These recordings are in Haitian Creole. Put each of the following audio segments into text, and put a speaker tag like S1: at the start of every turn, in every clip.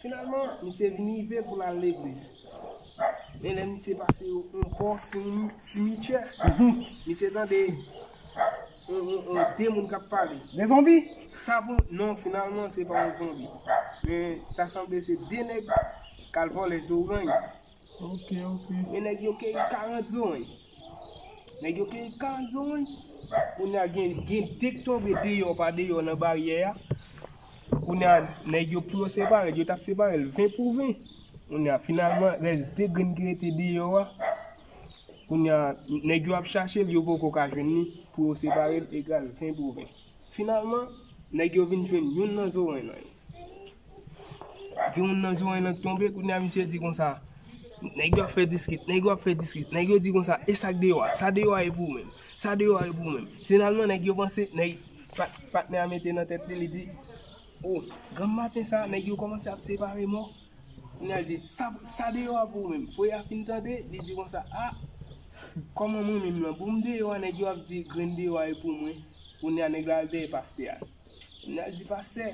S1: Finalman, misye vin rive pou l al legliz. Men lè misye pase yon bò simityè, misye tande de moun k ap pale. De zonbi?
S2: Sa pou, non
S1: finalman se pa yon zonbi. Men ta sanble se de nèg k al vòlè zoranj. Ok ok.
S3: Men nèg yo
S1: keyi 40 zowen. Nèg yo keyi 40 zowen. Kounya gen gen 2 k tonbe deyò pa deyò nan baryè a. Kounya nèg yo pou yo separe l, yo tap separe l 20 pou 20. Kounya finalman rès 2 grenn ki rete deyò a. Kounya nèg yo ap chache l yo poko ka jwenn li pou yo separe l egal 20 pou 20. Finalman nèg yo vin jwenn youn nan zowen nan yo. Yon moun nan Ziwany lan k tonbe, kounye a misye di konsa, nèg yo ap fè diskit, nèg yo ap fè diskit, nèg yo di konsa, e sa k deyò a, sa deyò a e pou ou menm, sa deyò a e pou ou menm. Finalman nèg yo panse, nèg, patnè a mete nan tèt li, li di, o, granm maten sa a, nèg yo kòmanse ap separe mò, kounye a l di, sa, sa deyò a pou ou menm. Voye a fin tande, li di konsa, a, kòman mwen menm lan, pou m deyò a nèg yo ap di grenn deyò a e pou mwen, kounye a nèg la al dèyè pastè a. Nènèl di pastè,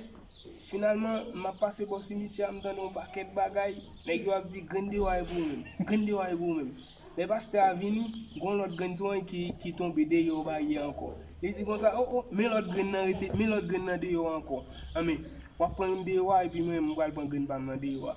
S1: Finalman, m ap pase bò simityè a, m tande yon pakèt bagay, nèg yo ap di, Grenn dewa e pou ou menm! Grenn dewa e pou ou menm! Lè pastè a vini, gon lòt grenn sou an ki tonbe deyò baryè a ankò. Li di konsa, O, o, men lòt grenn nan rete, men lòt grenn nan deyò ankò. Anben, w ap pran youn deyò a, epi mwen menm m pral pran grenn pa m nan deyò a.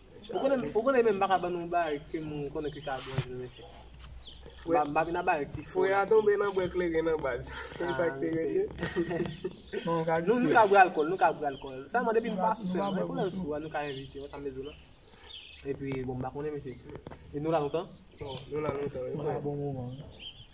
S2: Ou konnen menm m paka ban nou yon barik ke m konnen ki ka bon vre mesye. M pa vin a barik ki fo. Fwe a tonbe nan bwè
S1: kleren nan baz. Se sa k te rele.
S3: Nou ka bwe alkòl, nou ka
S2: bwe alkòl. Sèlman depi nou pa sou sèl. Mwen konnen sou a nou ka envite ou sa m bezwen la. Epi bon m pa konnen mesye. E nou la lontan? Nou la
S1: lontan wi. Bon moman.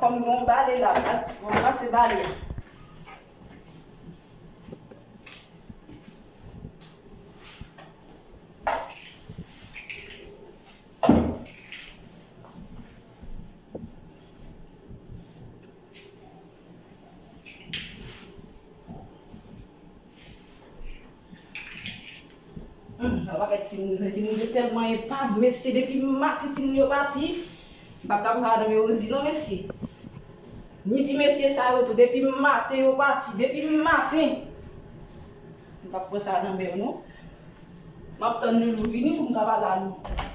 S4: Kòm gen yon bale la, m ap ranmase bale a. Humm map avek timoun yo timoun yo te telman epav mesye depi maten timoun yo pati m pap ka konn sa nan men Rosie non mesye ni ti mesye sa yo tou depi maten yo pati depi maten m pap pran sa nan men yo non map tann Loulou vini pou m ka pale a Loulou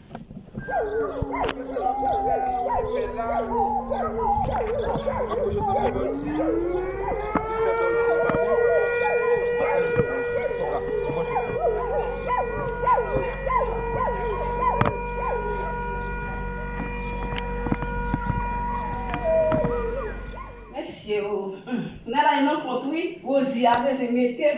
S4: Mesye ooh. Nèg la gen nan kont wi. Rosie a vle ze metem.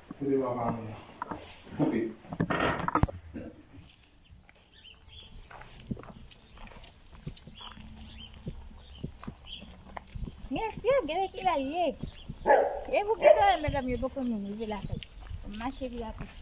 S5: Kote
S6: lwa pa moun nan? Kanpe. Mesye, gade ki lè l ye. E pou ki lè l, medam, yo poko menm rive lakay. Mache li a piti.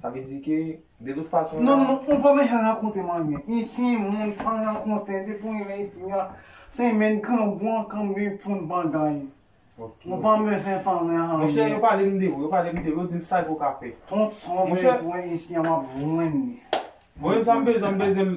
S5: Sa vle di ke de tout fason la. Non ou pa bezwen
S7: rakontem anyen. Isyen moun pa rakonte depi w imen espri a se imen grangou an kanpe poun pandan li. Ou pa bezwen pa mwen anyen. Monchè yo palem
S5: de ou, yo palem de ou, yo dim sa ke w ka fè. Tout sa w bezwen isye a map jwenn
S7: li. Mwen menm
S5: sa m bezwen m bezwen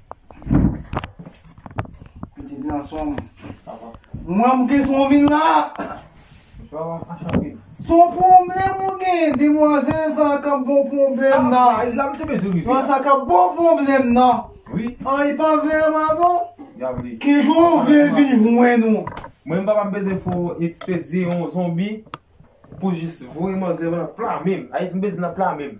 S7: Pitit gansonm. Mwen m kis mwen vin la.
S5: Son pwoblèm
S7: ou gen, demwazèl sa ka bon pwoblèm nan. Ah, la m te bezou rive.
S5: Sa ka bon
S7: pwoblèm nan. Oui. An, ah, e pa
S5: vle an
S7: ma bon? Ya vle. Ki
S5: jou ou vle
S7: vin jwen nou? Mwen m pa pa bezou
S5: fò ekspedye yon zonbi pou jis voye manzè nan pla menm. Ayiti m bezou nan pla menm.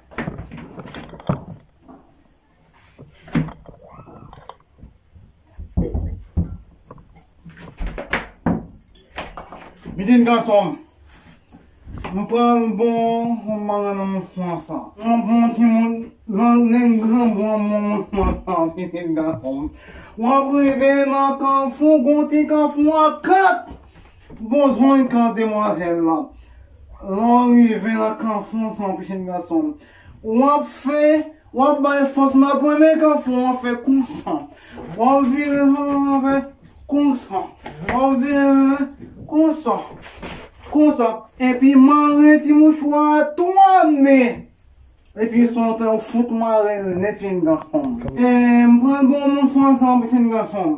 S7: Mitin gason m. Nou pran yon bon yon manman nan moun fwa sa. Yon bon ti moun nan nen gran bon yon moun moun fwa sa mitin gason m. Wap rive nan kanfou gon ti kanfou an kat. Bon jwenn kan demwazèl lan. Lè w rive nan kan fon san w pichèt gason m. W ap fè, w ap bay fòs nan premye kan fon an fè konsa. Wè w vire fon an ap fè konsa. Wè w vire fon an konsa. Konsa. Epi mare ti mouchwa a twa men. Epi san w te w fout mare l nèt chen gason m. M pran bon mouchwa san w pichèt gason m.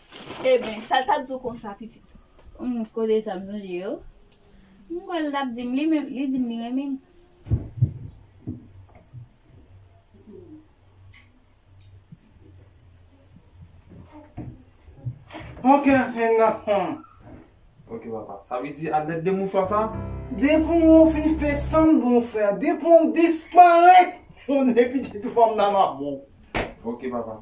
S4: Eben, sa l t ap di w konsa, pitit? Humm, kote
S6: sa m sonje yo? M kwè l t ap di m li menm, li di m li renmen m.
S7: Ok, hen nan humm. Ok
S5: papa, sa vle di alèd de mouchwa sa? Depi w
S7: fin fè sa m di w fè a, depi w disparèt, m konnen pitit fanm nan m ap wè w. Ok papa.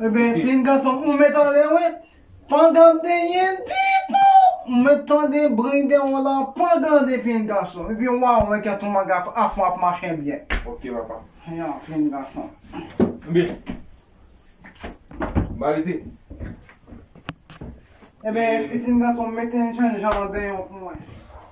S7: Ebyen pin gason ou met anlè wi pa gade yen ditou ou met tande bri de ou la pa gade pin gason ebyen wa wè kèt ou manga afon ap mache byen ok papa
S5: ya pin
S7: gason
S5: ebyen ba rete
S7: ebyen pitin gason mete jènjan deyò pou mwen.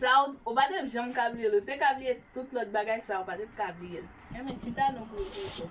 S4: Sa ou, ou pa tep janm ka bliyel ou te ka bliye tout lòt bagay sa ou pa tep ka bliyel. Enben chita non pou ou tonton.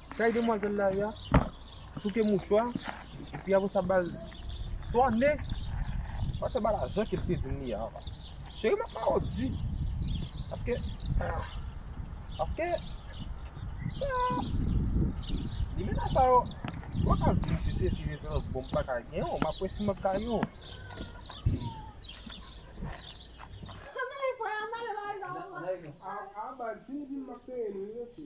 S5: Kay demwazèl la ya souke mouchwa epi apre sa bal tòne pa fè bal ajan kel te dim li ya anba cheri map mawòdi paske paske limena sa yo ou paka dim si se seri sa bon m paka gen yo map wè si map ka gen yo anba sim
S1: dim map peye nou yo ti.